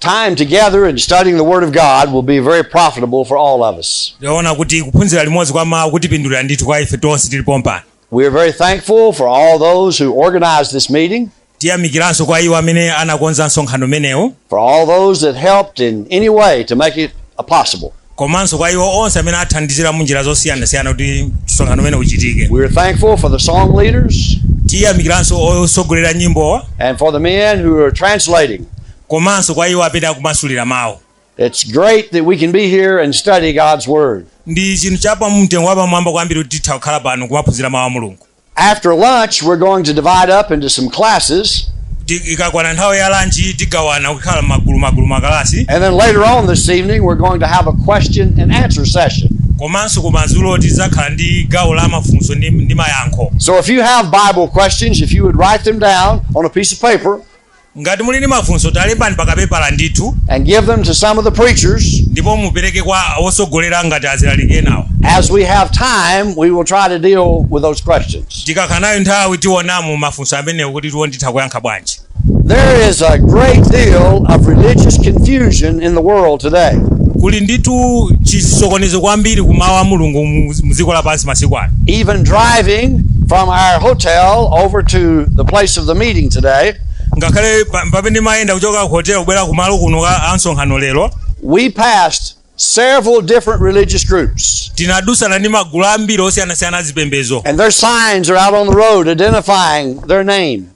Time together in studying the Word of God will be very profitable for all of us. ndaona kuti kuphunzira limodzi kwa mawu kutipindulira ndithu kwa ife tonse tili pompano We are very thankful for all those who organized this meeting, tiyamikiranso kwa iwo amene anakonza msonkhano umenewu for all those that helped in any way to make it a possible. komanso kwa iwo onse amene athandizira mu njira zosiyanasiyana kuti msonkhano umenewu uchitike We're thankful for the song leaders tiyamikiranso otsogolera nyimbowa and for the men who are translating. komanso kwa iwo amene akumasulira mawu It's great that we can be here and study God's Word. ndi chinthu cha mtengo wapamwamba kwambiri kuti titha kukhala pano kumaphunzira mawu a mulungu After lunch, we're going to divide up into some classes. Ti- ikakwana nthawi ya lanchi tigawana kukhala magulu magulu makalasi And then later on this evening, we're going to have a question and answer session. komanso kumadzulo tidzakhala ndi gawo la mafunso ndi, ndi mayankho So if you have Bible questions, if you would write them down on a piece of paper, Ngati muli ndi mafunso talembani pa kapepala ndithu. and give them to some of the preachers. ndipo mupereke kwa wotsogolera ngati azilaliki enawo. As we have time, we will try to deal with those questions. Tikakhala nayo nthawi tiona mu mafunso amenewo kuti tione kuti titha kuyankha bwanji. There is a great deal of religious confusion in the world today. Kuli ndithu chisokonezo kwambiri ku mawu a Mulungu mu mu dziko lapansi. masiku ano Even driving from our hotel over to the place of the meeting today, ngakhale pa- pamene ndimayenda kuchoka ku hotel kubwera kumalo kuno kwa msonkhano lero we passed several different religious groups. tinadutsana ndi magulu ambiri osiyanasiyana azipembezo And their signs are out on the road identifying their name.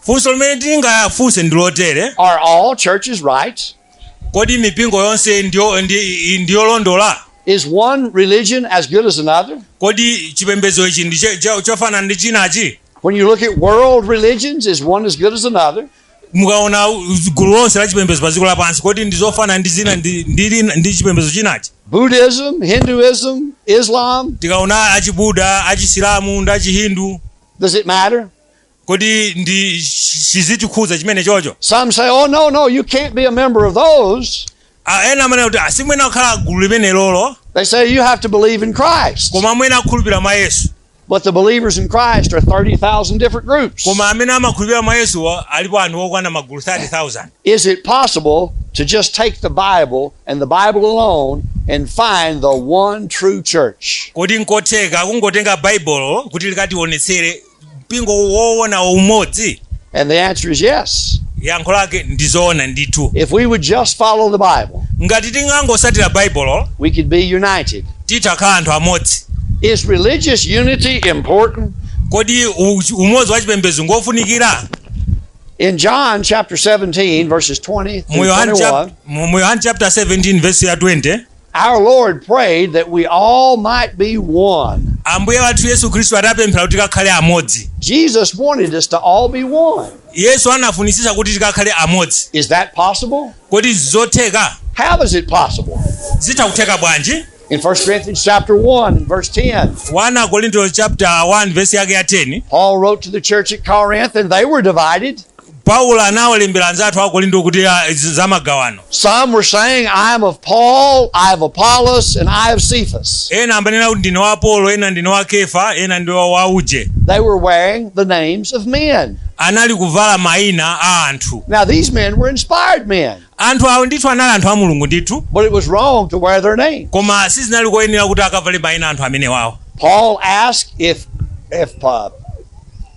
Funso limene tingafunse ndi lotere. Are all churches right? Kodi mipingo yonse ndiyo- ndi- ndi yolondola? Is one religion as good as another? Kodi chipembedzo ichi ndi che- che- chofanana ndi chinachi? When you look at world religions, is one as good as another? Mukaona u- gulu lonse la chipembedzo pa dziko lapansi, kodi ndi zofanana ndi zina ndi, ndi, lina- ndi chipembedzo chinachi? Buddhism, Hinduism, Islam, Tikaona achibuda, achisilamu ndi achihindu, does it matter? kodi ndi chi- chikutikhudza chimenechocho Some say, oh, no, no, you can't be a member of those. Ah, ena amanena kuti simuyenera kukhala gulu limenelolo They say you have to believe in Christ. koma amene akhulupirira mwa yesu But the believers in Christ are 30,000 different groups. koma amene amakhulupirira mwa yesuwo alipo anthu okwana magulu 30000 Is it possible to just take the Bible and the Bible alone and find the one true church? kodi nkotheka kungotenga baibulo kuti likatiwonetsere mpingo woona umodzi And the answer is yes. yankho lake ndi zoona ndithu If we would just follow the Bible, ngati tingangosatira baibulo we could be united. titakhala anthu amodzi Is religious unity important? kodi u- umodzi wa chipembedzo ngofunikira In John chapter 17, verses 20 mu yohani chap- mu- mu Yohani chapter 17 verse ya 20 through 21, our Lord prayed that we all might be one. ambuye wathu yesu khristu anapemphera kuti tikakhale amodzi Jesus wanted us to all be one. yesu anafunitsitsa kuti tikakhale amodzi Is that possible? kodi zotheka How is it possible? zitha kutheka bwanji In 1 Corinthians chapter 1 and verse 10, 1 akorinto chapter 1 vesi yake ya 10 Paul wrote to the church at Corinth and they were divided. Paulo anawalembera anzathu a Korinto kuti ah, izi za magawano. Some were saying, I am of Paul, I of Apollos, and I of Cephas. Ena amanena kuti ndine wa Apolo, ena ndine wa Kefa, ena ndi wa wa uje. They were wearing the names of men. Anali kuvala maina a anthu. Now, these men were inspired men. Anthu awo ndithu anali anthu a Mulungu ndithu, but it was wrong to wear their names. koma sizinali koyenera kuti akavale mayina a anthu amenewawo. Paul asked if if uh,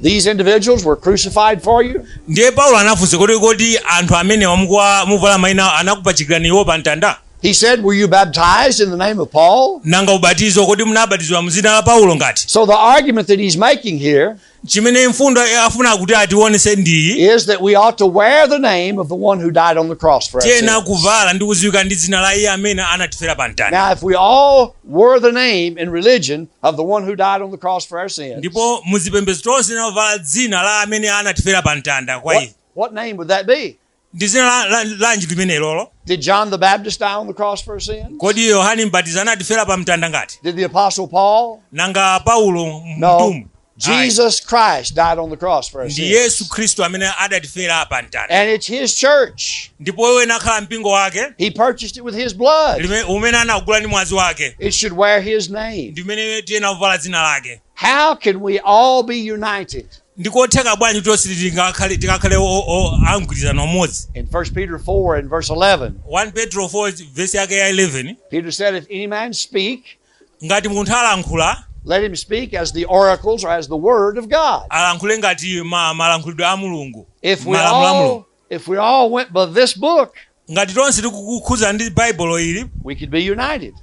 these individuals were crucified for you. Ndiye Paulo anafunsa kuti kodi anthu amenewa mukuwa- mukuvala mayina awo anakupachikirani iwo pa mtanda? He said, "Were you baptized in the name of Paul?" Nanga ubatizo kodi munabatizidwa mu dzina la Paulo ngati? So the argument that he's making here chimene mfundo afuna kuti atiwonetse ndiyi is that we ought to wear the name of the one who died on the cross for us. tiyenera kuvala ndi kudziwika ndi dzina la iye amene anatifera pa mtanda Now, if we all wore the name in religion of the one who died on the cross for our sins, ndipo muzipembedzo tonse titavala dzina la amene anatifera pa mtanda kwa what, ife what name would that be? ndi dzina la- la- lanji limenelolo Did John the Baptist die on the cross for our sins? kodi yohane mbatizi anatifera pa mtanda ngati Did the Apostle Paul? nanga paulo No. mtumwi Ayi. Jesus Christ died on the cross for our ndi sins. yesu khristu amene adatifera pa mtanda And it's His church. ndipo uwo unakhala mpingo wake He purchased it with His blood. lime- umene anagula ndi mwazi wake It should wear His name. ndi umene tiyena kuvala dzina lake How can we all be united? Ndikotheka bwanji kuti tonse tingakhale tikakhale o- o- a mgwirizano umodzi? In 1 Peter 4 and verse 11, 1 Petro 4 vesi yake ya 11 Peter said, If any man speak, ngati munthu alankhula let him speak as the oracles or as the word of God. alankhule ngati ma- malankhulidwe a Mulungu, If we malamulo a all Mulungu. If we all went by this book, ngati tonse tikukukhuzana ndi baibulo ili we could be united.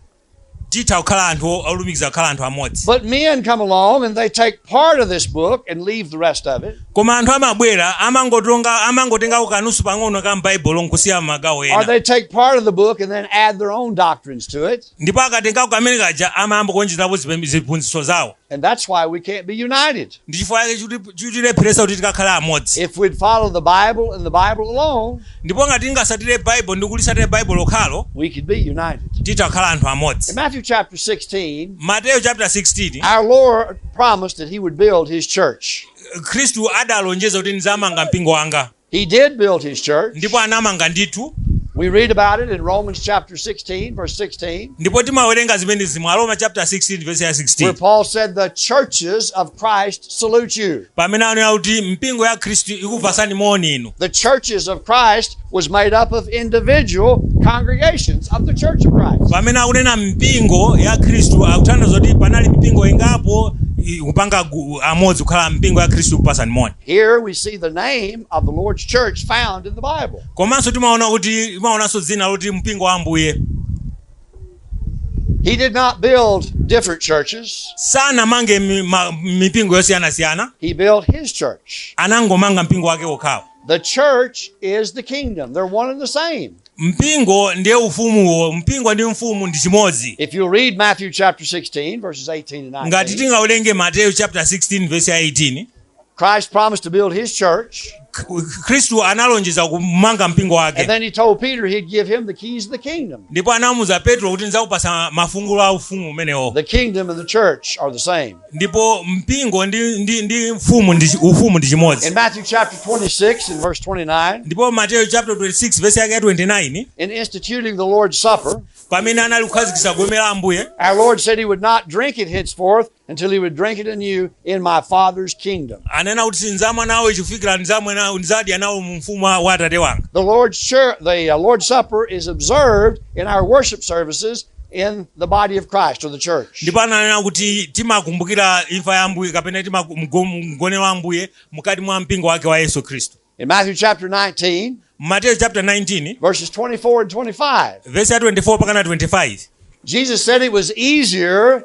titha kukhala anthu o- olumikiza kukhala anthu amodzi But men come along and they take part of this book and leave the rest of it. koma anthu amabwera amangotenga amangotengako kanthu pang'ono ka m'baibulo nkusiya magawo Or ena they take part of the book and then add their own doctrines to it. ndipo akatengako kamene kaja amayamba kuonjezerapo zipem- ziphunzitso zawo And that's why we can't be united. ndi chifukwa chake chikuti- chikutilepheretsa kuti tikakhale amodzi If we'd follow the Bible and the Bible alone, ndipo ngati tingasatire baibulo ndi kulisatire baibulo lokhalo we could be united. titha kukhala anthu In amodzi Matthew chapter 16, mateyu chapter 16 our Lord promised that he would build his church. khristu adalonjeza kuti ndizamanga mpingo wanga He did build his church. ndipo anamanga ndithu We read about it in Romans chapter 16, verse 16, ndipo timawerenga zimenezi mu aroma chapter 16 verse ya where 16 Paul said, The churches of Christ salute you. pamene anena kuti mpingo ya khristu ikupasani moni inu The churches of Christ was made up of individual congregations of the church of Christ. pamene akunena mpingo ya khristu akutanthauza kuti panali mpingo ingapo i- kupanga gu- amodzi kukhala mpingo ya khristu ikupasani moni Here we see the name of the Lord's church found in the Bible. komanso timaona kuti timaonanso dzina loti mpingo wa ambuye He did not build different churches, sanamange mi- ma- mipingo yosiyanasiyana he built his church. anangomanga mpingo wake wokhawo The church is the kingdom, they're one and the same. mpingo ndiye ufumuwo mpingo ndi ufumu ndi chimodzi If you read Matthew chapter 16, verses 18 and ngati 19, tingawerenge mateyu chapter 16 verse ya 18 Christ promised to build his church. K- khristu analonjeza kumanga mpingo And wake then he told Peter he'd give him the keys of the kingdom. ndipo anamuuza petro kuti ndidzakupasa mafungulo a ufumu umenewo The kingdom and the church are the same. ndipo mpingo ndi, ndi, ndi mfumu ndi, chi- ufumu ndi In chimodzi Matthew chapter 26 and verse 29, ndipo mateyu chapter 26 vesi yake ya 29 in instituting the Lord's Supper, pamene anali kukhazikitsa gome la ambuye our Lord said he would not drink it henceforth until he would drink it anew in my Father's kingdom. anena kuti sindzamwa nawo chifikira ndidzadya nawo mu ufumu wa wa atate wanga The Lord's, share, the uh, Lord's Supper is observed in our worship services in the body of Christ or the church. ndipo ananena kuti timakumbukira imfa ya ambuye kapena tima- mgonero wa ambuye mkati mwa mpingo wake wa yesu khristu In Matthew chapter 19, mateyu chapter 19 verses 24 and 25, vesi ya 24 pakana 25 Jesus said it was easier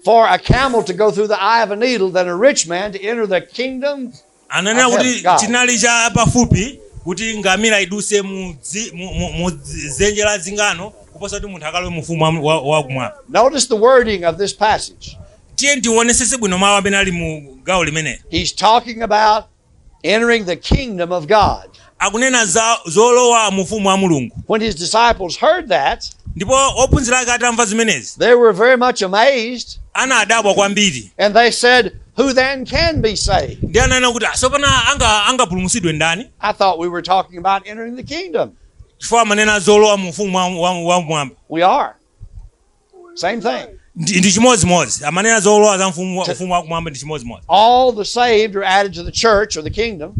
for a camel to go through the eye of a needle than a rich man to enter the kingdom ananena of kuti God. chinali cha pafupi kuti ngamira iduse mu dzi- mu- mu- mu dzi- dzenje la zingano kuposa kuti munthu akalowe mu ufumu wa- wa- wakumwamba Notice the wording of this passage. tiye tiwonesese bwino mawu amene ali mu gawo limeneli He's talking about Entering the kingdom of God. akunena zolowa mu ufumu wa mulungu When his disciples heard that, ndipo ophunzira ake atamva zimenezi they were very much amazed, anadabwa kwambiri and they said, Who then can be saved? ndi ananena kuti tsopano angapulumutsidwe ndani I thought we were talking about entering the kingdom. chifukwa amanena zolowa mu ufumu wa- wa- wamwamba We are. Same thing. ndi ndi chimodzimodzi amanena zolowa za mfumu wa- ufumu wakumwamba ndi chimodzimodzi All the saved are added to the church or the kingdom.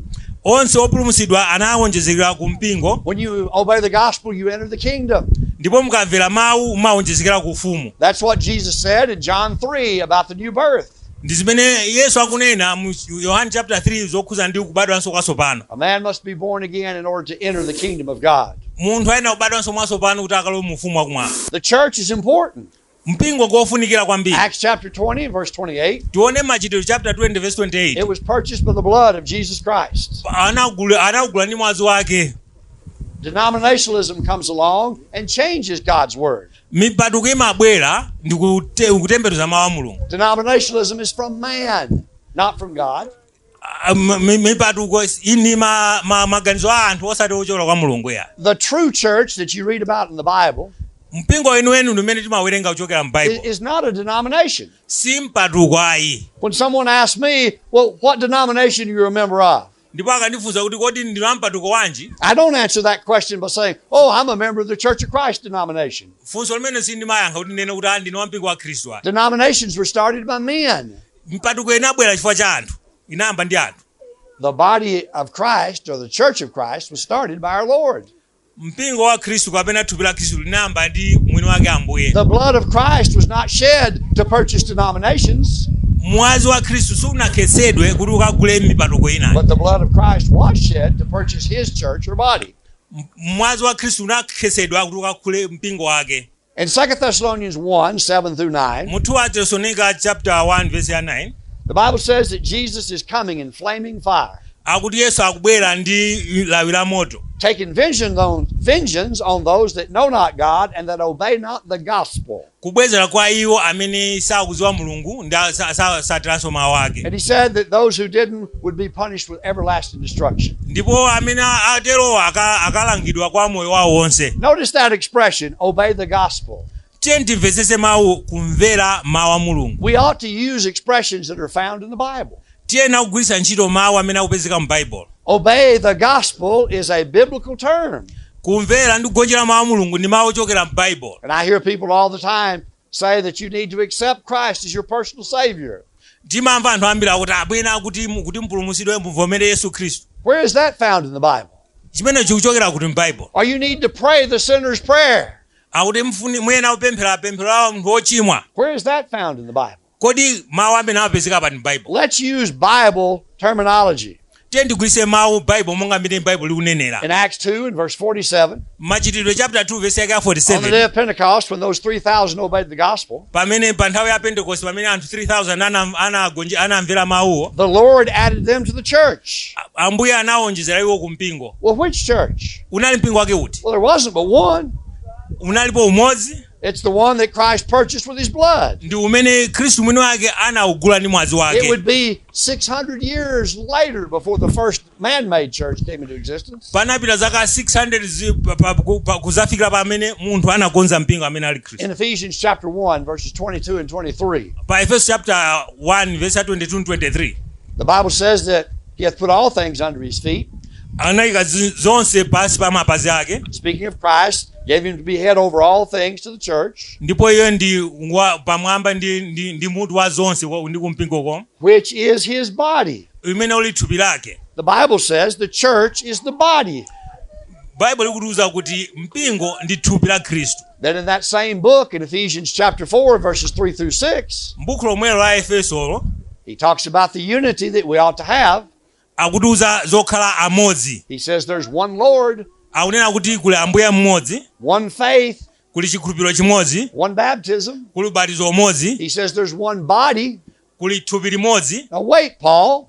onse opulumutsidwa anawonjezekera ku mpingo When you obey the gospel, you enter the kingdom. ndipo mukamvera mawu mumawonjezekera ku ufumu That's what Jesus said in John 3 about the new birth. Ndi zimene Yesu akunena mu Yohane chaputala 3 zokhudza ndi kubadwanso kwatsopano. A man must be born again in order to enter the kingdom of God. Munthu ayenera kubadwanso mwatsopano kuti akalowe mu ufumu wa kumwamba. The church is important. Mpingo ndi wofunikira kwambiri. Acts chapter 20 and verse 28, Tione Machitidwe chaputala 20 vesi 28. It was purchased by the blood of Jesus Christ. Anagula anagula ndi mwazi wake. Denominationalism comes along and changes God's word. mipatuko imabwera ndi kute- kutembenuza mawu a mulungu Denominationalism is from man, not from God. Ah, m- m- mipatuko is- iyi ndi ma- ma- maganizo a anthu osati ochokera kwa mulungu ayi The true church that you read about in the Bible mpingo weniweni ndi umene timawerenga kuchokera i- m'baibulo is not a denomination. si mpatuko ayi When someone asks me, well, what denomination are you a member of? ndipo akandifunsa kuti kodi ndinu ampatuko wanji I don't answer that question by saying, Oh, I'm a member of the Church of Christ denomination. funso limene sindimayankha kuti ndinene kuti "Ah, ndine wampingo wa khristu Denominations were started by men. mipatuko inabwera chifukwa cha anthu inayamba ndi anthu The body of Christ or the Church of Christ was started by our Lord. Mpingo wa Khristu kapena thupi la Khristu linayamba ndi mwini wake Ambuye. The blood of Christ was not shed to purchase denominations, Mwazi wa Khristu sunakhetsedwe kuti ukagule mipatuko ina. but the blood of Christ was shed to purchase his church or body. M- Mwazi wa Khristu unakhetsedwa kuti ukagule mpingo wake. In 2 Thessalonians 1 7 through 9, mu 2 atesalonika chapter 1 verse ya 9 the Bible says that Jesus is coming in flaming fire, akuti yesu akubwera ndi lawi la moto taking vengeance on, vengeance on those that know not God and that obey not the gospel. kubwezera kwa iwo amene sakudziwa mulungu ndi a- sa- sa- satsatiranso mawu ake And he said that those who didn't would be punished with everlasting destruction. ndipo amene a- aterowo aka- akalangidwa kwa moyo wawo wonse Notice that expression, obey the gospel. tiyeni timvetsetse mawu kumvera mawu a mulungu We ought to use expressions that are found in the Bible. tiyenera kugwiritsa ntchito mawu amene akupezeka mu baibulo Obey the gospel is a biblical term. kumvera ndi kugonjera mawu a mulungu ndi mawu ochokera mu baibulo And I hear people all the time, say that you need to accept Christ as your personal Savior. timamva anthu ambiri akuti amanena kuti mu- kuti mpulumutsidwe muvomere yesu khristu Where is that found in the Bible? chimenechi chikuchokera kuti m'baibulo Or you need to pray the sinner's prayer. akuti mfuni- muyenera kupemphera pemphero la munthu wochimwa Where is that found in the Bible? Kodi mawu amenewa amapezeka pa m'Baibo. Let's use Bible terminology. Tiyeni tigwiritse mawu Baibo monga mmene Baibo likunenera. In Acts 2 and verse 47, Machitidwe chapter 2 verse yake ya 47 on the day of Pentecost, when those 3,000 obeyed the gospel, pamene pa nthawi ya Pentecost pamene anthu 3000 ana- anagonje- anamvera mawuwo the Lord added them to the church. a- Ambuye anawonjezera iwo ku mpingo. Well, which church? Unali mpingo wake uti? Well, there wasn't but one. Unalipo umodzi It's the one that Christ purchased with his blood. ndi umene khristu mwini wake anawugula ndi mwazi wake It would be 600 years later before the first man made church came into existence. panapita zaka 600 zi- pa- pa- ku- pa- kudzafikira pamene munthu anakonza mpingo amene ali khristu In Ephesians chapter 1, verses 22 and 23, pa efeso chapter 1 verse ya 22 23 the Bible says that He hath put all things under his feet. anayika zi- zonse pansi pa mapazi ake Speaking of Christ, gave him to be head over all things to the church, ndipo iye ndi wa, pamwamba ndi, ndi, ndi mutu wa zonse wa- ndi kumpingoko which is his body. umene uli thupi lake The Bible says the church is the body. baibulo likutiuza kuti mpingo ndi thupi la khristu Then in that same book, in Ephesians chapter 4, verses 3 through 6, m'buku lomwelo la efesolo he talks about the unity that we ought to have. akutiuza zokhala amodzi He says there's one Lord, akunena kuti kuli ambuye mmodzi one faith, kuli chikhulupiriro chimodzi one baptism. kuli ubatizo umodzi He says there's one body. kuli thupi limodzi Now, wait, Paul.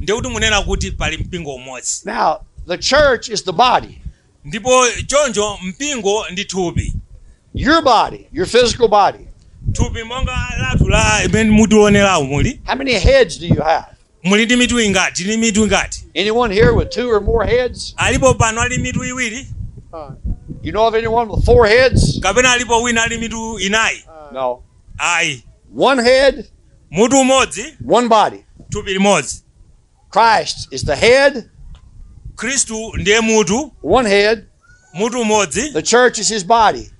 ndiye kuti munena kuti pali mpingo umodzi. Now, the church is the body, Ndipo choncho mpingo ndi thupi. your body, your physical body. Thupi monga lathu limene mutioneramo muli. How many heads do you have? Muli ndi mitu ingati? Ndi mitu ingati? Anyone here with two or more heads? Alipo pano ali mitu iwiri You know of anyone with four heads? kapena alipo wina ali mitu inayi? No. ayi One head, mutu umodzi one body. thupi limodzi Christ is the head, khristu ndiye mutu one head. mutu umodzi The church is his body.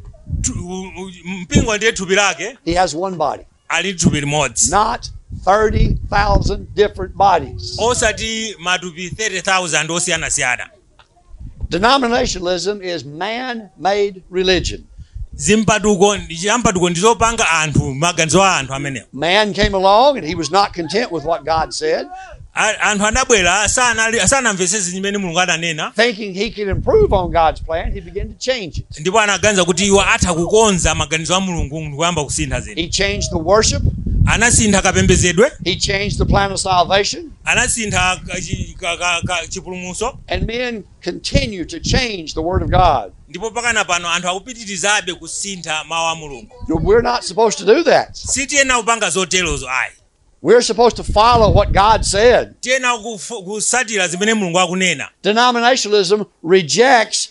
thu- u- u- mpingo ndiye thupi lake He has one body, ali ndi thupi limodzi not 30,000 different bodies. osati matupi 30000 osiyanasiyana Denominationalism is man made religion. zimpatuko ndi chiyampatuko, ndi zopanga anthu maganizo a anthu amenewo Man came along and he was not content with what God said, A- anthu anabwera sanali- sanamvetsetse zimene mulungu ananena thinking he could improve on God's plan. He began to change it. ndipo anaganiza kuti iwo atha kukonza maganizo a mulungu ndikuyamba kusintha zinthu He changed the worship, anasintha kapembedzedwe he changed the plan of salvation, anasintha ka- chi- ka- ka- ka- chipulumutso And men continue to change the Word of God. ndipo pakana pano anthu akupitirizabe kusintha mawu a mulungu No, We're not supposed to do that. sitiyenera kupanga zoterozo ayi We're supposed to follow what God said. tiyenera kufu- kusatira zimene mulungu akunena Denominationalism rejects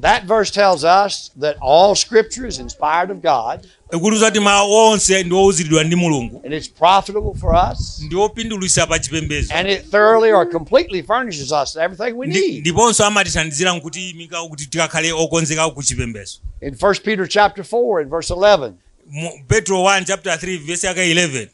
That verse tells us that all scripture is inspired of God ikutiuza kuti mawu onse ndi owuziridwa ndi mulungu and it's profitable for us ndi opindulitsa pa chipembedzo and it thoroughly or completely furnishes us everything we Ndi- need. ndiponso amatithandizira nkuti imika kuti tikakhale okonzeka ku chipembedzo In 1 Peter chapter 4 and verse 11, Mu- petro 1 chapter 3 verse yake 11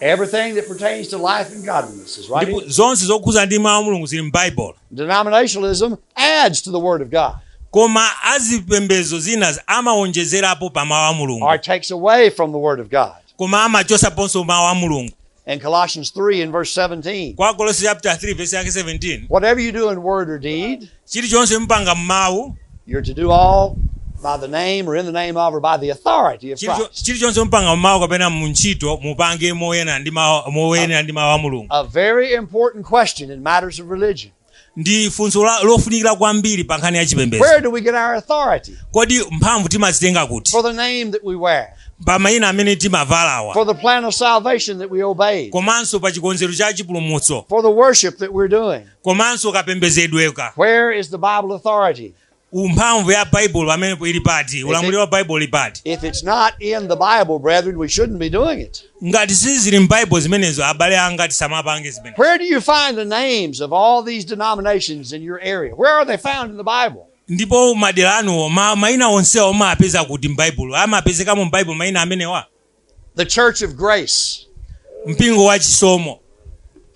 Everything that pertains to life and godliness is right ndipo here. zonse zokhuza ndi mawu a mulungu zili m'baibulo Denominationalism adds to the Word of God koma azipembedzo zina amawonjezerapo pa mawu a mulungu or takes away from the Word of God. koma amachosaponso mawu a mulungu In Colossians 3 and verse 17, kwa kolose chapter 3 verse yake 17 whatever you do in word or deed, chilichonse mupanga m'mawu You're to do all by the name or in the name of or by the authority of Chilicho- Christ. chilichonse mupanga m'mawu kapena mu ntchito mupange moyenera ndi mawu- moyenera ndi mawu a mulungu A very important question in matters of religion. ndi funso la- lofunikira kwambiri pa nkhani ya chipembedzo Where do we get our authority? kodi mphamvu timazitenga kuti For the name that we wear, pa mayina amene timavalawa for the plan of salvation that we obey, komanso pa chikonzero cha chipulumutso for the worship that we're doing, komanso kapembezedweka. Where is the Bible authority? u mphamvu ya Baibulo pamenepo ili pati? Ulamuliro wa Baibulo uli pati? If it's not in the Bible, brethren, we shouldn't be doing it. Ngati sizili m'Baibulo zimenezo, abale anga tisamapange zimenezo. Where do you find the names of all these denominations in your area? Where are they found in the Bible? Ndipo madera anuwo ma, maina onsewa amapeza kuti m'Baibulo? Amapezekamo m'Baibulo maina amenewa? The Church of Grace, mpingo wa chisomo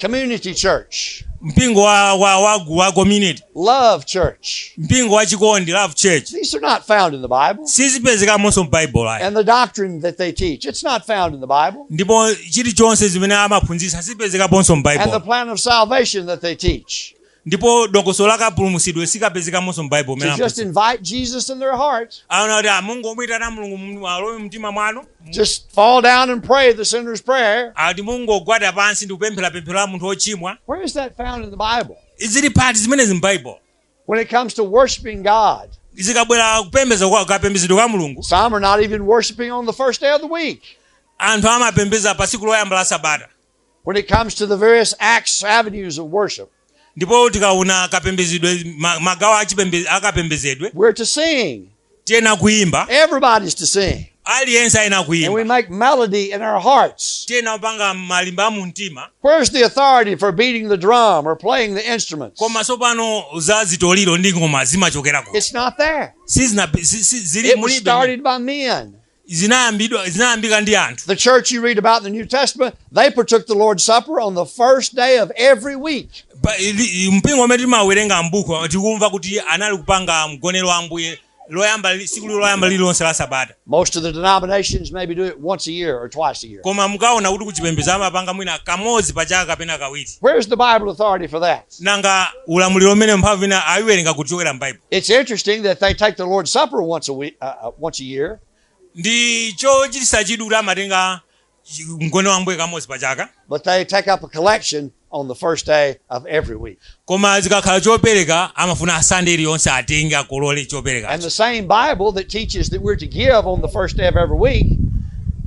Community Church, mpingo wa, wa, wa, wa community Love Church. mpingo wa chikondi love church These are not found in the Bible. sizipezekamonso m'baibulo ayi And the doctrine that they teach, it's not found in the Bible. ndipo chilichonse zimene amaphunzitsa sizipezekaponso And the m'baibulo plan of salvation that they teach, ndipo dongosolo la kapulumutsidwe sikapezekamonso mu baibulo To just invite Jesus in their hearts. ati mungomuyitana mulungu mu- alowe mtima mwanu Just fall down and pray the sinner's prayer. ati mungogwada pansi ndi kupemphera pemphero la munthu wochimwa Where is that found in the Bible? zili pati zimenezi mu baibulo When it comes to worshiping God, zikabwera kupembeza kapembezedwe ka mulungu some are not even worshiping on the first day of the week. anthu amapembeza pa tsiku loyamba la sabata When it comes to the various acts, avenues of worship, ndipo tikaona kapembezedwe ma- magawo achipembe- akapembezedwe we're to sing. tiyenera kuimba Everybody's to sing. aliyense ayenera And we kuimba make melody in our hearts. tiyenera kupanga malimba a mumtima Where's the authority for beating the drum or playing the instruments? koma tsopano za zitoliro ndi ngoma zimachokera kuti It's not there. sizina si- si- zili It was mulibe started by men. zinayambidwa zinayambika ndi anthu The church you read about in the New Testament, they partook the Lord's Supper on the first day of every week. Pa- ili- mpingo umene timawerenga m'buku tikumva kuti anali kupanga mgonero wa ambuye loyamba li- tsiku lilo loyamba lililonse la sabata Most of the denominations maybe do it once a year or twice a year. koma mukaona kuti kuchipembedzo amapanga mwina kamodzi pa chaka kapena kawiri Where's the Bible authority for that? Nanga ulamuliro umenewu mphamvu yina ayiwerenga kuti kuchokera m'Baibulo? It's interesting that they take the Lord's Supper once a week, uh, uh, once a year. Ndi chochititsa chidwi kuti amatenga chi- mgonero wa Ambuye kamodzi pa chaka, But they take up a collection on the first day of every week. koma zikakhala chopereka amafuna Sande iliyonse atenge akolole And choperekacho. the same Bible that teaches that we're to give on the first day of every week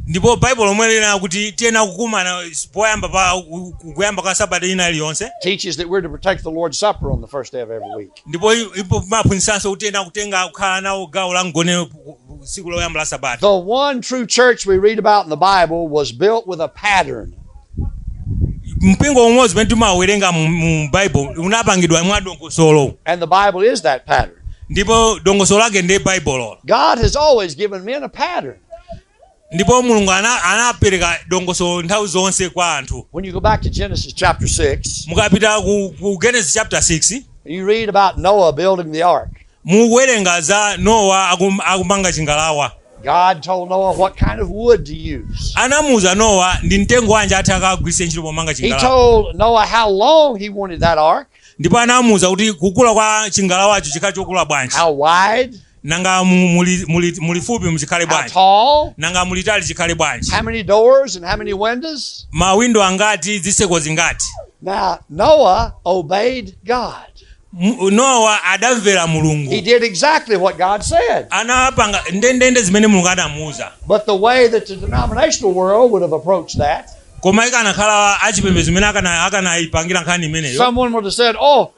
Ndipo Baibulo lomwe linena kuti tiyenera kukumana poyamba pa u- u- kuyamba kwa sabata ina iliyonse teaches that we're to partake the Lord's Supper on the first day of every week. ndipo i- ipo imaphunzitsanso kuti tiyenera kutenga kukhala nawo gawo la mgonero pu- pu- pu- tsiku loyamba la sabata The one true church we read about in the Bible was built with a pattern. mpingo umodzi umene timawerenga mu- mu bible unapangidwa mwa dongosolo And the Bible is that pattern. ndipo dongosolo lake ndiye baibulolo God has always given men a pattern. Ndipo Mulungu ana, anapereka dongosolo nthawi zonse kwa anthu. When you go back to Genesis chapter 6, Mukapita ku, ku Genesis chapter 6 you read about Noah building the ark. mukuwerenga za Nowa akum, akumanga chingalawa. God told Noah what kind of wood to use. Anamuuza Nowa ndi mtengo wanji oti akagwiritse ntchito pomanga He chingalawa. told Noah how long he wanted that ark. Ndipo anamuuza kuti kukula kwa chingalawacho chikhale chokula bwanji. How wide? Nanga mulifupi muchikhale bwanji? How tall? Nanga mulitali chikhale bwanji? How many doors and how many windows? Mawindo angati, zitseko zingati? Now Noah obeyed God. Noah adamvera Mulungu. He did exactly what God said. Anapanga ndendende zimene Mulungu anamuuza. But the way that the denominational world would have approached that Koma ikanakhala achipembedzo mmene akana- akanaipangira nkhani imeneyo, someone would have said, Oh,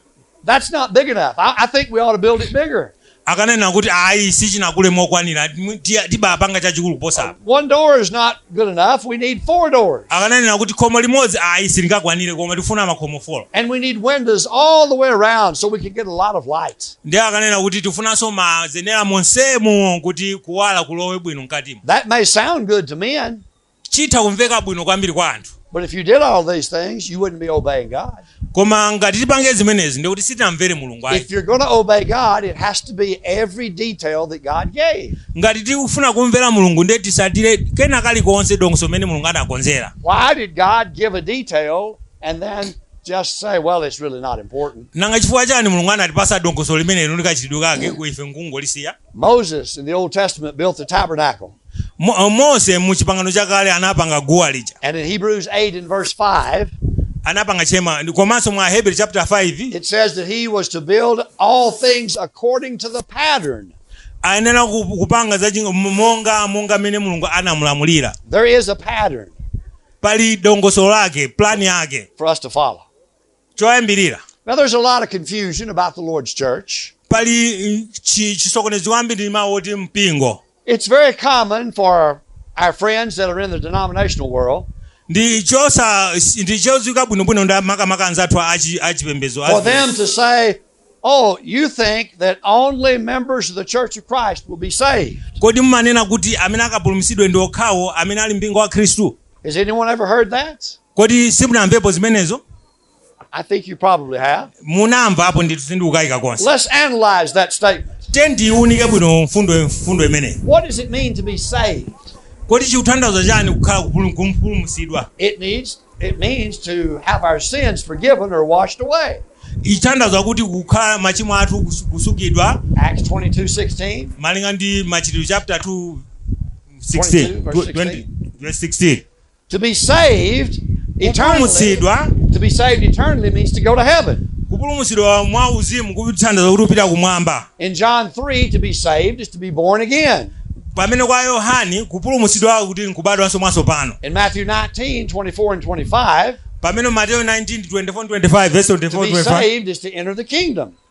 that's not big enough. I, I think we ought to build it bigger. akanena kuti ayi sichinakule mokwanira mwi- tiya- tibapanga chachikulu kuposa apa One door is not good enough. We need four doors. akananena kuti khomo limodzi ayi silingakwanire koma tifuna makhomo folo And we need windows all the way around so we can get a lot of light. ndiye akanena kuti tifunanso mazenera monsemo kuti kuwala kulowe bwino mkatimo That may sound good to men, chitha kumveka bwino kwambiri kwa anthu But if you did all these things, you wouldn't be obeying God. koma ngati tipange zimenezi ndikuti sitinamvere mulungu ayi If you're going to obey God, it has to be every detail that God gave. ngati tikufuna kumvera mulungu ndiye titsatire kena kalikonse dongosolo limene mulungu anakonzera Why did God give a detail and then just say, well, it's really not important? nanga chifukwa chani mulungu anatipasa dongosolo limenelo ndi kachitidwe kake ife nkungolisiya Moses in the Old Testament built the tabernacle. Mo- uh, mose mu chipangano chakale anapanga guwa lija And in Hebrews 8 and verse 5, anapanga chema komanso mwa ahebri chapter 5 it says that he was to build all things according to the pattern. ayenera ku- kupanga za chinga- m- monga monga mmene mulungu anamulamulira There is a pattern pali dongosolo lake plani yake for us to follow. choyambirira Now, there's a lot of confusion about the Lord's church. pali mm, chi- chisokonezo kwambiri ndi mawu oti mpingo It's very common for our friends that are in the denominational world ndi chosa ndi chodziwika bwinobwino ndi makamaka anzathu achi- achipembedzo for them to say, Oh, you think that only members of the church of Christ will be saved. kodi mumanena kuti amene akapulumutsidwe ndi okhawo amene ali mumpingo wa khristu Has anyone ever heard that? Kodi simunamvepo zimenezo? I think you probably have. Munamvapo ndithu sindikukaika konse. Let's analyze that statement. Tiyeni tiiwunike bwino mfundo mfundo imeneyi. What does it mean to be saved? Kodi chikutanthauza chani kukhala kupulu- kupulumutsidwa? It needs it means to have our sins forgiven or washed away. Chitanthauza kuti kukhala machimo athu kus- kusukidwa Acts 22, 16. malinga ndi machitidwe chapter 2 16 22, verse 20 verse 16 To be saved eternally, kupulumutsidwa to be saved eternally means to go to heaven. kupulumutsidwa mwa uzimu kutanthauza kuti upita kumwamba In John 3, to be saved is to be born again. pamene kwa yohane kupulumutsidwa kuti nkubadwanso mwatsopano In Matthew 19, 24 and 25, pamene mateyo 19 24 25 verse 24 25 to be saved is to enter the kingdom.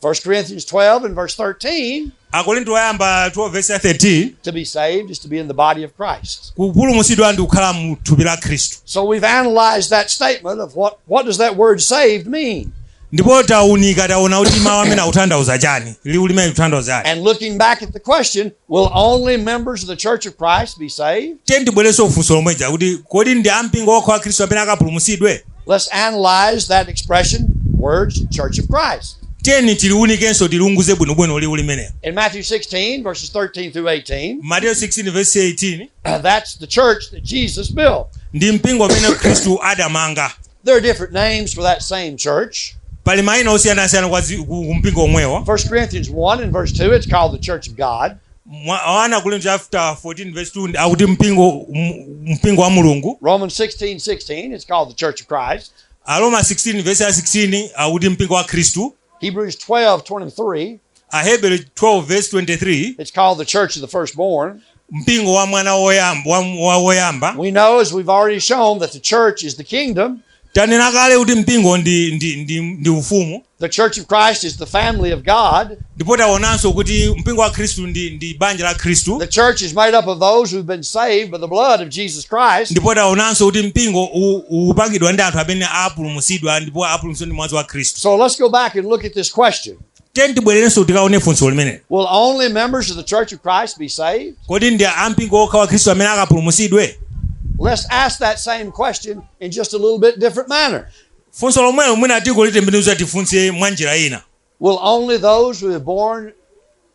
1 Corinthians 12 and verse 13, akorinto oyamba 12 vesi ya 13 to be saved is to be in the body of Christ. kupulumutsidwa ndi kukhala mu thupi la khristu So we've analyzed that statement of what, what does that word saved mean? ndipo taunika taona kuti mawu amene akutanthauza chani liwu limene likutanthauza chani And looking back at the question, Will only members of the Church of Christ be saved? tiyeni tibwerenso ku funso lomweja kuti kodi ndi ampingo wokha wa khristu amene akapulumutsidwe Let's analyze that expression, words, Church of Christ. tiyeni tiliunikenso tiliunguze bwinobwino liwu limenelo In Matthew 16, verses 13 through 18, mateyo 16 verse 18 uh, that's the church that Jesus built. ndi mpingo umene khristu adamanga There are different names for that same church. pali mayina osiyanasiyana kwa zi- ku ku mpingo womwewo 1 Corinthians 1 and verse 2, it's called the church of God. Mwa- ana akorinto chapter 1 verse 2 ndi- akuti mpingo m- mpingo wa mulungu Romans 16, 16, it's called the church of Christ. aroma 16 verse ya 16 akuti mpingo wa khristu Hebrews 12:23. Aheberi 12:23. It's called the church of the firstborn. Mpingo wa mwana woyamba. We know as we've already shown that the church is the kingdom. Tanena kale kuti mpingo ndi ndi ndi ndi ufumu. The church of Christ is the family of God. Ndipo taonanso kuti mpingo wa Khristu ndi ndi banja la Khristu. The church is made up of those who've been saved by the blood of Jesus Jesus Christ. ndipo taonanso kuti mpingo u- ukupangidwa ndi anthu amene apulumutsidwa ndipo apulumutsidwa ndi mwazi wa khristu So let's go back and look at this question. tiyeni tibwererenso tikaone funso limeneli Will only members of the Church of Christ be saved? kodi ndi ampingo okha wa khristu amene akapulumutsidwe Let's ask that same question in just a little bit different manner. funso lomwelo mwina tikulitembenuza tifunse mwa njira ina Will only those who are born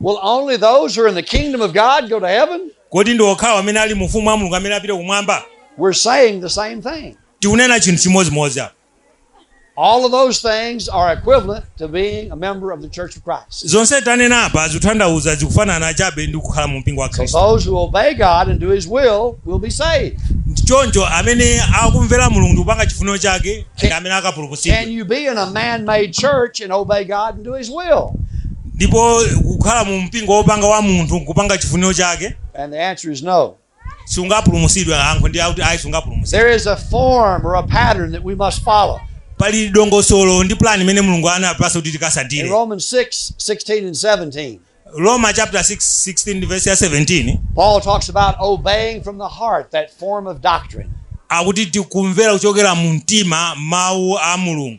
Will only those who are in the kingdom of God go to heaven? kodi ndi okhawo amene ali mu ufumu wa mulungu amene apite kumwamba We're saying the same thing. tikunena chinthu chimodzimodzi apa All of those things are equivalent to being a member of the Church of Christ. zonse tanena apa zikutanthauza zikufanana chabe ndi kukhala mu mpingo wa khristu So those who obey God and do His will will be saved. choncho amene akumvera mulungu ndi kupanga chifuniro chake ndi amene akapulumutsidwa Can you be in a man-made church and obey God and do His will? Ndipo kukhala mu mpingo wopanga wa munthu nkupanga chifuniro chake. And the answer is no. Sungapulumutsidwe, yankho ndi lakuti ayi sungapulumutsidwe. There is a form or a pattern that we must follow. Pali dongosolo ndi plan imene Mulungu anatipatsa kuti tikatsatire. In Romans 6:16 and 17. Aroma chapter 6:16 ndi verse ya 17. Paul talks about obeying from the heart that form of doctrine. Akuti tikumvera kuchokera mu mtima mawu a Mulungu.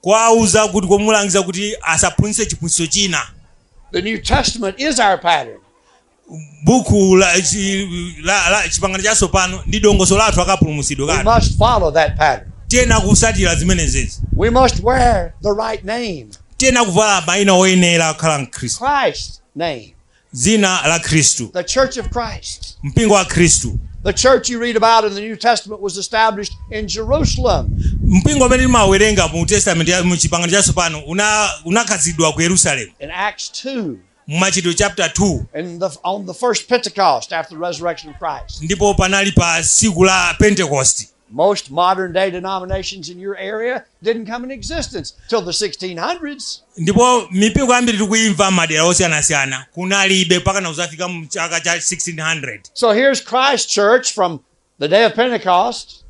kuwauza kuti kumulangiza kuti asaphunzitse chiphunzitso china The New Testament is our pattern. buku la, chi- la, la chipangano chatsopano ndi dongosolo lathu la kapulumutsidwe kathu We must follow that pattern. tiyenera kutsatira zimenezezi We must wear the right name, tiyenera kuvala maina oyenera kukhala mkhristu Christ's name. dzina la khristu The Church of Christ. mpingo wa khristu The church you read about in the New Testament was established in Jerusalem. mpingo umene timawerenga mu testament ya mu chipangano chatsopano una- unakhazikitsidwa ku yerusalemu In Acts 2, mu machitidwe chapter 2 and the, on the first Pentecost after the resurrection of Christ. ndipo panali pa tsiku la pentekosti Most modern day denominations in your area didn't come in existence till the 1600s. ndipo mipingo yambiri tikuyimva mmadera osiyanasiyana kunalibe mpaka nakuzafika mu chaka cha 1600 So here's Christ Church from the day of Pentecost,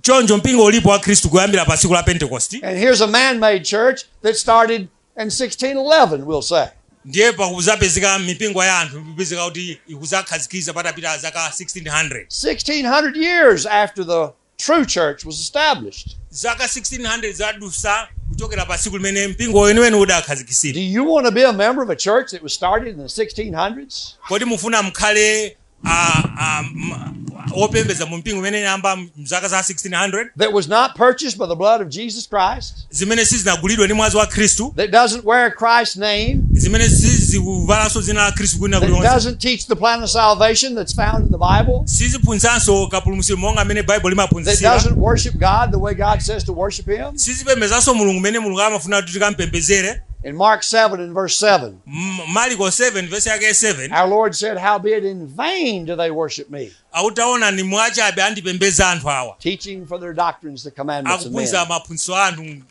choncho mpingo ulipo wa khristu kuyambira pa tsiku la pentekosti and here's a man made church that started and 1611, we'll say. ndiye pakuzapezeka mipingo ya anthu ikupezeka kuti ikuzakhazikiza patapita zaka 1600 1600 years after the true church was established. zaka 1600 zadusa kuchokera pa tsiku limene mpingo weniweni udakhazikisira Do you want to be a member of a church that was started in the 1600s? kodi mufuna mkhale a, a, m- opembedza mu mpingo imene inayamba mzaka za 1600 that was not purchased by the blood of Jesus Christ, zimene sizinagulidwe ndi mwazi wa khristu that doesn't wear Christ's name, zimene sizikuvalanso dzina la khristu kwina kulikonse that doesn't teach the plan of salvation that's found in the Bible, siziphunzitsanso kapulumutso monga mmene baibulo limaphunzitsira that doesn't worship God the way God says to worship Him. sizipembezanso mulungu mene mulungu amafuna kuti tikampembezere In Mark 7 and verse 7, M- mariko 7 vesi yake ya 7 Our Lord said, Howbeit in vain do they worship me, akuti taonani mwachabe andipembeza anthu awa teaching for their doctrines the commandments of men. akuphunzitsa maphunzitso a anthu m-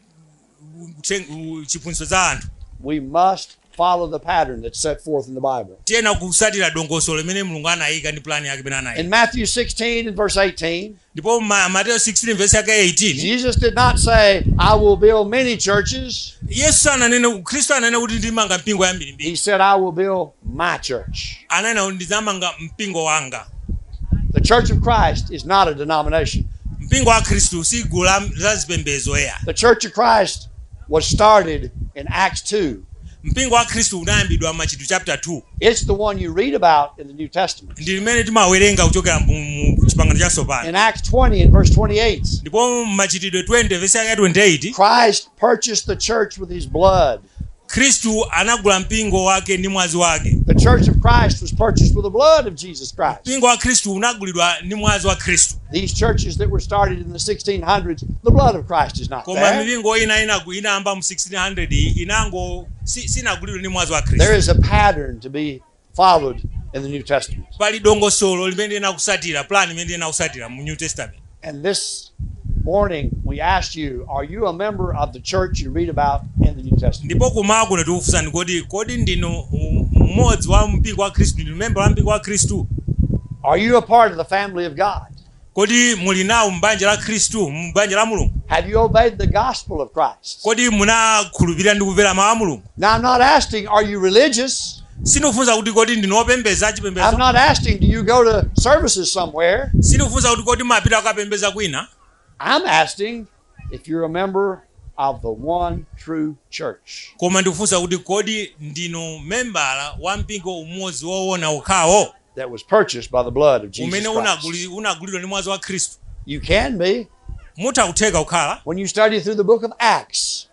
m- uthe- u- chiphunzitso za anthu We must follow the pattern that's set forth in the Bible. tiyenera kusatira dongosolo limene mulungu anayika ndi pulani yake imene anayika In Matthew 16 and verse 18, ndipo ma- mateyo 16 vesi yake 18 Jesus did not say, I will build many churches. yesu ananena khristu sananene kuti ndimanga mipingo yambirimbiri He said, I will build my church. ananena kuti ndizamanga mpingo wanga The church of Christ is not a denomination. mpingo wa khristu si gulu la- la zipembedzo eya The church of Christ was started in Acts 2. mpingo wa khristu unayambidwa machitidwe chapter 2 It's the one you read about in the New Testament. ndi limene timawerenga kuchokera mu mu chipangano chatsopano In Acts 20 and verse 28, ndipo mmachitidwe 20 vesi yake ya 28 Christ purchased the church with his blood. khristu anagula mpingo wake ndi mwazi wake The church of Christ was purchased with the blood of Jesus Christ. mpingo wa khristu unagulidwa ndi mwazi wa khristu These churches that were started in the 1600s, the blood of Christ is not there. koma mipingo ina inagu- inayamba mu 1600 inango si- sinagulidwe ndi mwazi wa khristu There is a pattern to be followed in the New Testament. pali dongosolo limene tiyenera kusatira plan imene tiyenera kusatira mu new testament And this morning we asked you, are you a member of the church you read about in the New Testament? ndipo kummawa kuno tikufunsani kodi kodi ndinu um, mmodzi wa mpingo wa khristu ndinu member wa mpingo wa khristu Are you a part of the family of God? Kodi muli nawo m'banja la Khristu, m'banja la Mulungu? Have you obeyed the gospel of Christ? Kodi munakhulupirira ndi kumvera mawu a Mulungu? Now, I'm not asking, are you religious? Sindikufunsa kuti kodi ndinu opembedza achipembedzo. I'm not asking, do you go to services somewhere? Sindikufunsa kuti kodi mumapita kukapembedza kwina. I'm asking, if you're a member of the one true church. Koma ndikufunsa kuti kodi ndinu membala wa mpingo umodzi woona okhawo? That was purchased by the blood of Jesus Christ. Umene unagulidwa ndi mwazi wa Khristu. You can be. Mutha kutheka kukhala. When you study through the book of Acts.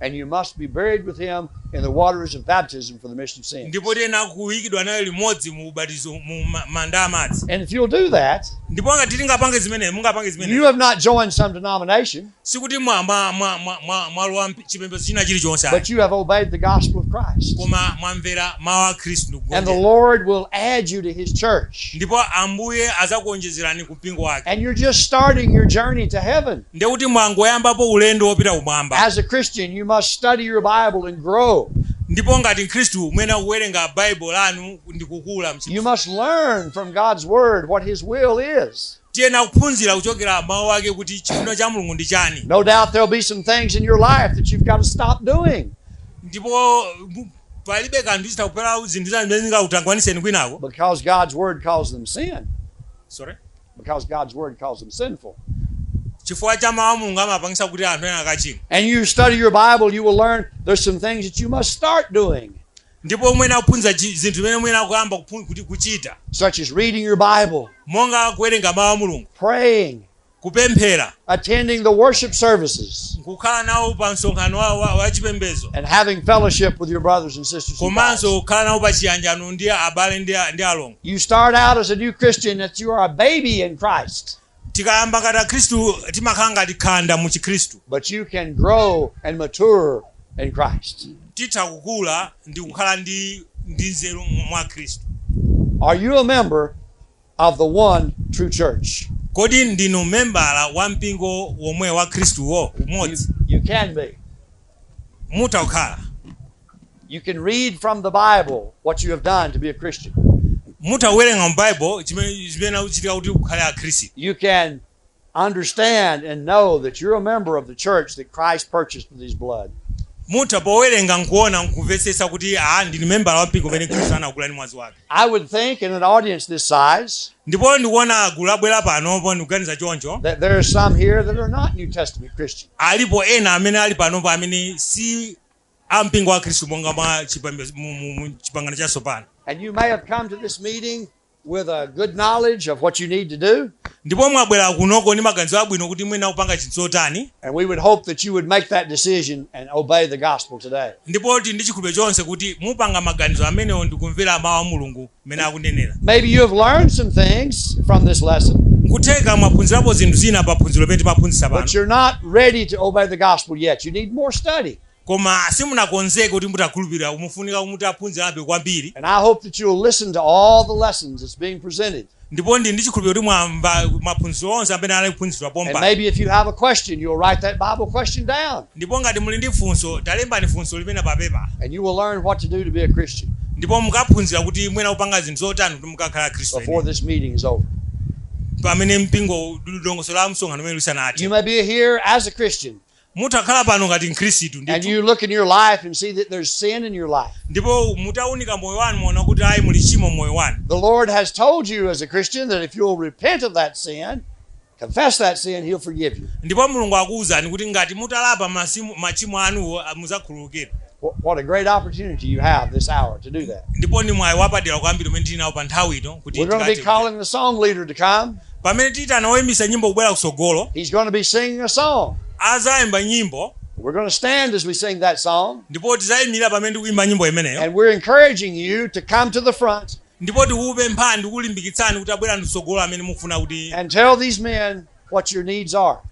And you must be buried with him in the waters of baptism for the remission of sins. ndipo tiyenera kuikidwa naye limodzi mu ubatizo mu ma- manda amadzi And if you'll do that, ndipo ngati tingapange zimene mungapange zimene you have not joined some denomination, sikuti mwa- mwa- mwa- mwa- mwa- mwalowa mp- chipembedzo china chilichonse ayi. but you have obeyed the gospel of Christ. koma mwamvera mawu a khristu ndi kugonjera And the Lord will add you to his church. ndipo ambuye azakuonjezerani mpingo wake. And you're just starting your journey to heaven. Ndiye kuti mwangoyambapo ulendo wopita kumwamba. As a Christian, you must study your Bible and grow. ndipo ngati mkhristu muyenera kuwerenga baibulo lanu ndi kukula you must learn from god's word what his will is tiyena kuphunzira kuchokera mawu ake kuti chifuniro cha mulungu ndi chani no doubt there'll be some things in your life that you've got to stop doing ndipo palibe kanthu zitha kupezeka zinthu zina zimene zingakutangwaniseni kwinako because god's word calls them sin sorry Because God's Word calls them sinful. chifukwa cha mawu a mulungu amapangisa kuti anthu ena akachimwa And you study your Bible, you will learn there's some things that you must start doing, ndipo muyena kuphunzira chi- zinthu zimene muyena kuyamba kuphu- kuti kuchita such as reading your Bible, monga kuwerenga mawu a mulungu praying, kupemphera. attending the worship services. nkukhala nawo pa msonkhano wa, wa, wa chipembedzo. and having fellowship with your brothers and sisters in Christ. komanso kukhala nawo pa chiyanjano ndi abale ndi, a- ndi alongo. You start out as a new Christian that you are a baby in Christ, tikayamba ngati akhristu timakhala ngati khanda mu chikhristu but you can grow and mature in Christ. titha kukula ndi kukhala ndi ndi nzeru mwa khristu Are you a member of the one true church. Kodi ndinu membala wa mpingo womwe wa Khristuwo umodzi? You, you can be. Mutha kukhala. You can read from the Bible what you have done to be a Christian. Mutha kuwerenga mu Bible chimene chimene chikuchitika kuti kukhale a Khristu. You can understand and know that you're a member of the church that Christ purchased with his blood. mutha powerenga nkuona nkumvetsetsa kuti a ndine membala wa mpingo umene khristu anagula ndi mwazi wake I would think in an audience this size ndipo ndikuona gulu labwera panopo ndikuganiza choncho that there are some here that are not New Testament Christians. alipo ena amene ali panopo amene si a mpingo wa khristu monga mwa chipembe- mu- mu- mu chipangano chatsopano And you may have come to this meeting with a good knowledge of what you need to do. ndipo mwabwera kunoko ndi maganizo abwino kuti muyenera kupanga chinthu chotani And we would hope that you would make that decision and obey the gospel today. ndipo tili ndi chikhulupiriro chonse kuti mupanga maganizo amenewo ndi kumvera mawu a mulungu mmene akunenera Maybe you have learned some things from this lesson, nkutheka mwaphunzirapo zinthu zina pa phunziro limene timaphunzitsa pano but you're not ready to obey the gospel yet. You need more study. Koma simunakonzeke kuti mutakhulupirira mufunika mutaphunzirabe kwambiri. And I hope that you'll listen to all the lessons that's being presented. Ndipo ndili ndi chikhulupiriro kuti mwamva maphunziro onse amene anali kuphunzitsidwa And pompano. maybe if you have a question, you'll write that Bible question down Ndipo ngati muli ndi funso, talembani funso limenelo pa pepala. and you will learn what to do to be a Christian Ndipo mukaphunzira kuti muyenera kupanga zinthu zotani kuti mukakhale Mkhristu before eni. this meeting is over. Pamene mpingo dongosolo la msonkhano umenewu You lisanathe. may be here as a Christian, Mutakhala pano ngati Mkhristu and ndithu, you look in your life and see that there's sin in your life, ndipo mutaunika moyo wanu muona kuti ayi muli tchimo m'moyo wanu, the Lord has told you as a Christian that if you'll repent of that sin, confess that sin, He'll forgive you. ndipo Mulungu akuwuzani kuti ngati mutalapa masimu- machimo anuwo ah, mudzakhululukidwa. Wh- What a great opportunity you have this hour to do that. ndipo ndi mwayi wapadera kwambiri umene tili nawo pa nthawi ino kuti We're going to be tikathe- calling the song leader to come. pamene tiitana woyimbisa nyimbo kubwera kutsogolo He's going to be singing a song. azayimba nyimbo We're going to stand as we sing that song. ndipo tizayimirira pamene tikuyimba nyimbo imeneyo And we're encouraging you to come to the front ndipo tikupemphani ndi kukulimbikitsani kuti abwere kutsogolo amene mukufuna kuti and tell these men what your needs are.